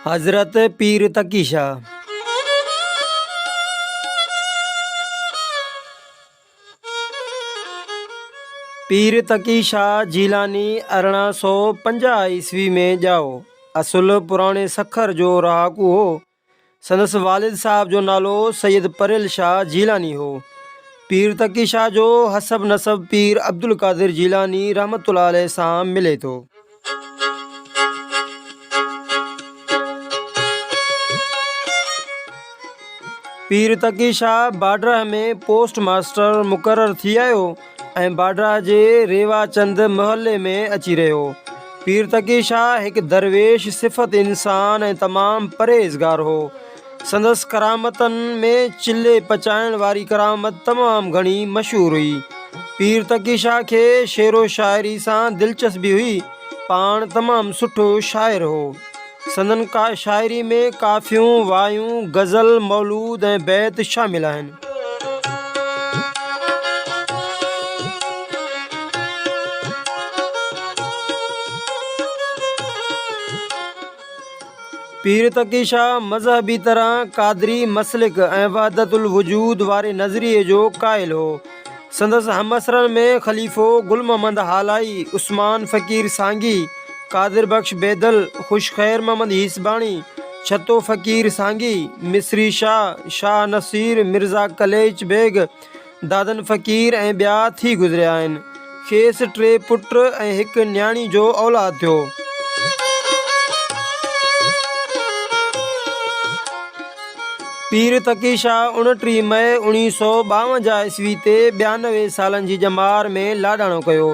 حضرت پير تقي شاهه پير تقي شاهه جيلاني ارڙهن سؤ پنجاهه عيسوي ۾ ڄائو. اصل پراڻي سکر جو رهاڪو هو. سندس والد صاحب جو نالو سيد پريل شاهه جيلاني هو. پير تقي شاهه جو حسب نسب پير عبدالقادر جيلاني رحمة الله عليه سان ملي ٿو. پير تقي شاهه باڊرهه ۾ پوسٽ ماستر مقرر ٿي آيو. ۽ باڊرا جي ريوا چند محلي ۾ اچي رهيو. پير تقي شاهه هڪ درويش صفت انسان ۽ تمام پرهيزگار هو. سندس ڪرامتن ۾ چلهي پچائڻ واري ڪرامت تمام گهڻي مشهور هئي. پير تقي شاهه کي شعر و شاعري سان دلچسبي هئي. پاڻ تمام سٺو شاعر هو. سندن شاعري ۾ ڪافيون، وايون، غزل، مولود ۽ بيت شامل آهن. پير تقي شاهه مذهبي طرح قادري مسلڪ ۽ وحدت الوجود واري نظريي جو قائل هو. سندس همعصرن ۾ خليفو گل محمد هالائي، عثمان فقير سانگي، قادر بخش بيدل، خوش خير محمد هيسباڻي، ڇتو فقير سانگي، مصري شاهه، شاهه نصير، مرزا قليچ بيگ، دادن فقير ۽ ٻيا ٿي گذريا آهن. کيس ٽي پٽ ۽ هڪ نياڻي جو اولاد ٿيو. پير تقي شاهه اڻٽيهه مئي اوڻيهه سؤ ٻاونجاهه عيسوي تي ٻيانوي سالن جي ڄمار ۾ لاڏاڻو ڪيو.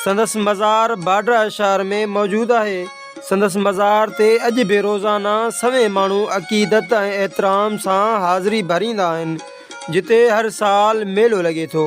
سندس مزار باڊرهه شهر ۾ موجود آهي. سندس مزار تي اڄ به روزانه سوين ماڻهو عقيدت ۽ احترام سان حاضري ڀريندا آهن. جتي هر سال ميلو لڳي ٿو.